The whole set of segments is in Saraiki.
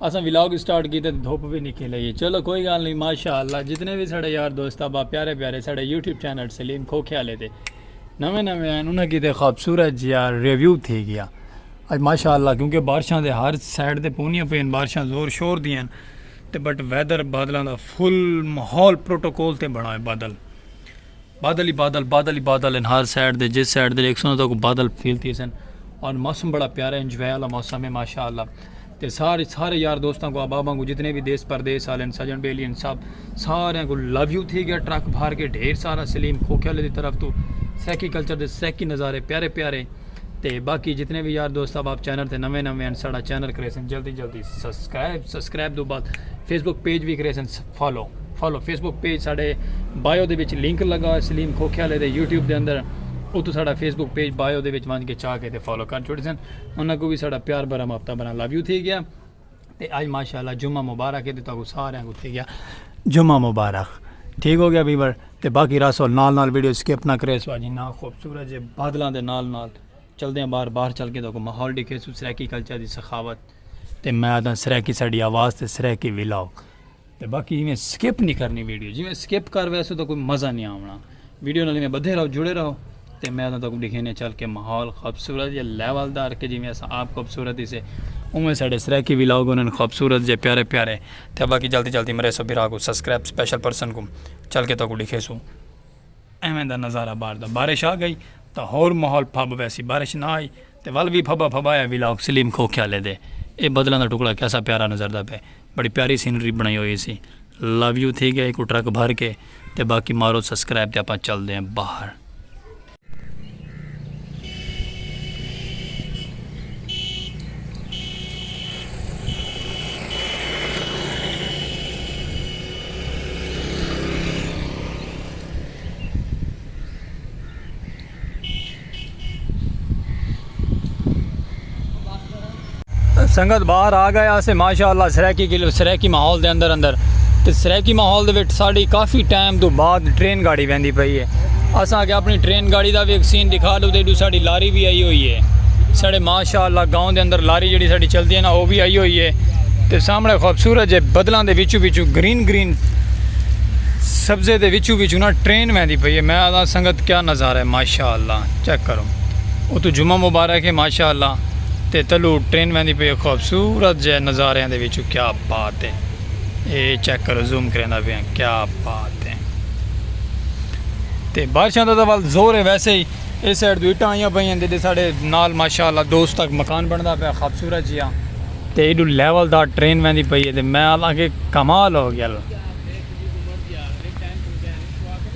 اساں ولاگ سٹارٹ کیتے تے دھپ وی نکل آئی ہے چلو کوئی گال نہیں ماشاءاللہ جتنے وی ساڑے یار دوست ابا پیارے پیارے ساڑے یوٹیوب چینل سلیم کھوکھے والے تے نویں نویں ہیں انہاں کیتے خوبصورت جیا ریویو تھی گیا اج ماشاءاللہ کیونکہ بارشاں دے ہر سائیڈ تے پونیاں پین بارشاں زور شور دیاں تے بٹ ویدر بادلاں دا فل ماحول پروٹوکول تے بنا ہے بادل بادل ہی بادل بادل ہی بادل ہن ہر سائیڈ دے جس سائیڈ دے ڈیکھسن اتھاں کو بادل فیل تھیسن اور موسم بڑا پیارا ہے انجوائے والا موسم ہے ماشاءاللہ تے سارے سارے یار دوستاں کو احباباں کو جتنے بھی دیس پردیس والے ہیں سجن بیلی ہیں سب سارے کو لو یو تھی گیا ٹرک بھار کے ڈھیر سارا سلیم کھوکھے والے دی طرف تو سیکی کلچر دے سیکی نظارے پیارے پیارے تے باقی جتنے بھی یار دوست اب آپ چینل تے نویں نویں ہیں ساڑا چینل کرے سن جلدی جلدی سبسکرائب سبسکرائب دو بعد فیس بک پیج بھی کرے سن follow follow Facebook page ساڈے بائیو دے وچ لنک لگا ہوئے سلیم کھوکھیالے دے یوٹیوب دے اندر اتو ساڈا فیس بک پیج بائیو دے وچ ونج کے چاہ کے تے فالو کر چھوڑی سن انہاں کو بھی ساڈا پیار بھرا مابطہ بنا لو یو تھی گیا تے اج ماشاءاللہ جمعہ مبارک ہے تے تاکو سارے کو تھی گیا جمعہ مبارک ٹھیک ہو گیا ویور تے باقی راسو نال نال ویڈیو سکپ نہ کرے سو اج نا خوبصورت جے بادلاں دے نال نال چلدے ہیں باہر باہر چل کے تاکو ماحول ڈکھے سو سرائیکی کلچر دی سخاوت تے میں آدھا سرائیکی ساڈی آواز تے سرائیکی ویلاگ تے باقی ایویں سکپ نہیں کرنی ویڈیو جی میں سکپ کر ویسو تو کوئی مزہ نہیں آونا ویڈیو نال میں بدھے رہو جڑے رہو تے میں تاں تکوں دکھینے چل کے ماحول خوبصورت یا لیول دار کے جی میں اسا آپ خوبصورت ہی سے اوہ ساڑے سرائیکی ویلاگ انہوں نے خوبصورت جے پیارے پیارے تے باقی جلدی جلدی مرے سو بیرا کو سبسکرائب سپیشل پرسن کو چل کے تکوں دکھے سو ایویں دا نظارہ بار دا بارش آ گئی تو ہور ماحول پھب ویسی بارش نہ آئی تے ول وی پھبا پھبایا ولاگ سلیم کھوکھیالے دے اے بدلاں دا ٹکڑا کیسا پیارا نظردا پئے بڑی پیاری سینری بنڑائی ہوئی سی لو یو تھی گئے اکوں ٹرک بھر کے تے باقی مارو سسکرائب تے اپاں چلدے ہیں باہر۔ سنگت باہر آ گئے آسے ماشاءاللہ سریکی کلو سریکی ماحول دے اندر اندر تے سریکی ماحول دے وچ ساڈی کافی ٹائم تو بعد ٹرین گاڑی ویندی پئی ہے اساں اگے اپنی ٹرین گاڑی دا وی سین دکھا دو تے ایڈو ساڈی لاری وی آئی ہوئی ہے ساڈے ماشاءاللہ گاؤں دے اندر لاری جڑی ساڈی چلدی ہے نا او وی آئی ہوئی ہے تے سامنے خوبصورت جے بدلاں دے وچوں وچوں گرین گرین سبزے دے وچوں وچوں نا ٹرین ویندی پئی ہے میں آدھا سنگت کیا نظارہ ہے ماشاء اللہ چیک کرو اتو جمعہ مبارک ہے ماشاء اللہ تے تلو ٹرین ویندی پئی ہے خوبصورت جے نظاریاں دے وچوں کیا بات ہے اے چیک کرو زوم کریندا پیا کیا بات ہے تے بارشاں دا ول زور ہے ویسے ہی اس سائیڈ تو اٹاں آئیاں پئی ہیں تے ساڈے نال ماشاء اللہ دوست تک مکان بندا پیا خوبصورت جیا تے ایڈو لیول دا ٹرین ویندی پئی ہے تے میں اللہ کے کمال ہو گیا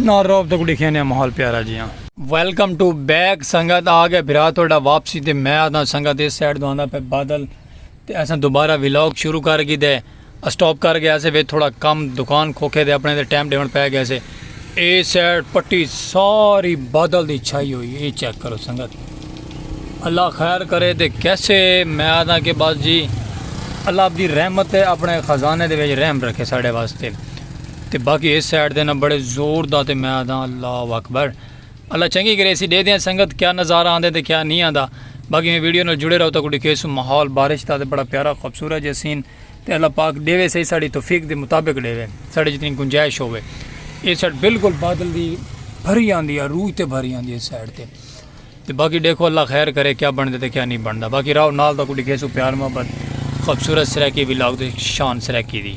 نہ روب تک ڈکھیا نے ماحول پیارا جیاں ویلکم ٹو بیک سنگت آ گیا بھرا تھوڑا واپسی تے میں آتا سنگت اس سائڈ دوانا پہ بادل تے ایسا دوبارہ ویلوگ شروع کر گی دے اسٹاپ کر گیا سے وے تھوڑا کم دکان کھوکھے دے اپنے دے ٹائم ڈیون پہ گیا سے اے سائڈ پٹی ساری بادل دی چھائی ہوئی اے چیک کرو سنگت اللہ خیر کرے تے کیسے میں آتا کہ بس جی اللہ اپنی رحمت اپنے خزانے دے ویج رحم رکھے ساڑے واسطے تے باقی اس سائیڈ دے نا بڑے زور دا تے میں آدھاں اللہ اکبر اللہ چنگی گریسی ڈے دیاں سنگت کیا نظارہ آندے تے کیا نہیں آندا باقی میں ویڈیو نال جڑے رہو تاکو ڈکھیسو ماحول بارش دا تے بڑا پیارا خوبصورت جے سین تے اللہ پاک ڈے وے سہی ساڑی توفیق دے مطابق ڈے وے ساڑی جتنی گنجائش ہوے اس سائیڈ بالکل بادل دی بھری آندی ہے روح تے بھری آندی ہے اس سائیڈ تے تے باقی ڈیکھو اللہ خیر کرے کیا بنڑدے تے کیا نی بنڑدا باقی راؤ نال تاکوں ڈکھیسوں پیار محبت خوبصورت سرائیکی ولاگ تے شان سرائیکی دی۔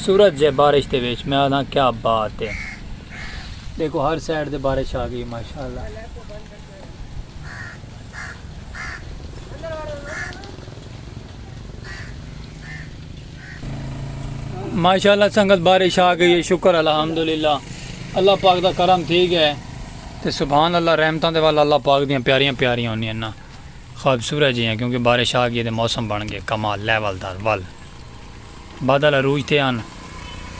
سورج جے بارش دے وچ میں آدھاں کیا بات ہے۔ ڈیکھو ہر سائیڈ تے بارش آ گئی ماشاءاللہ سنگت بارش آ گئی ہے شکر الحمدللہ اللہ پاک دا کرم تھی گیا ہے تے سبحان اللہ رحمتاں دے والا اللہ پاک دیاں پیاریاں پیاریاں ہونی ہیں نا خوبصورت جی ہیں کیونکہ بارش آ گئی ہے تے موسم بن گئے کمال لیول دار ول بادل عروج تے ہن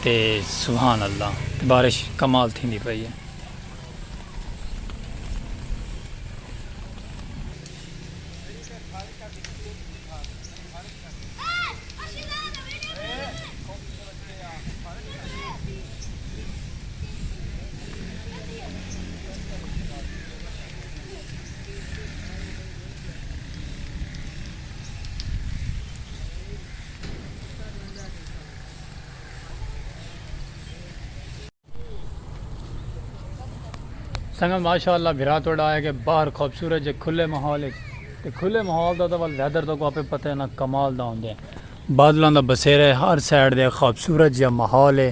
تے سبحان اللہ تے بارش کمال تھیندی پئی اے۔ سنگت ماشاء اللہ بھرا توڑا آیا کہ باہر خوبصورت جے کھلے ماحول تے کھلے ماحول دا تو ول ویدر تو کو اپے پتہ نہ کمال دا ہوندے بادلاں دا بسیرے ہر سائیڈ دے خوبصورت جے ماحول ہے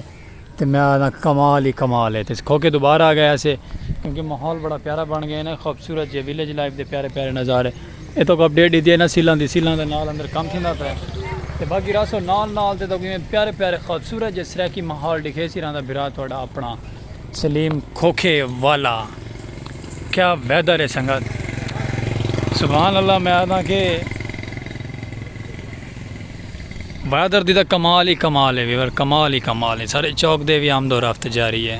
تے میں آکھنا کمال ہی کمال ہے تس کھوکے دوبارہ آ گیا سے کیونکہ ماحول بڑا پیارا بن گیا نا خوبصورت جے ویلیج لائف دے پیارے پیارے نظارے اے تو اپ ڈیٹ دیتی ہے نا سیلاں دی سیلاں دے نال اندر کم تھیندا پیا تے باقی راسو نال نال تے تو پیارے پیارے خوبصورت جے سرائیکی ماحول ڈکھے سی رہندا بھرا تہاڈا اپنا سلیم کھوکے والا کیا ویدر ہے سنگت سبحان اللہ میں آکھنا کہ بہادر دی تاں کمال ہی کمال ہے وی ور کمال ہی کمال ہے سارے چوک دے وی آمد و رفت جاری ہے۔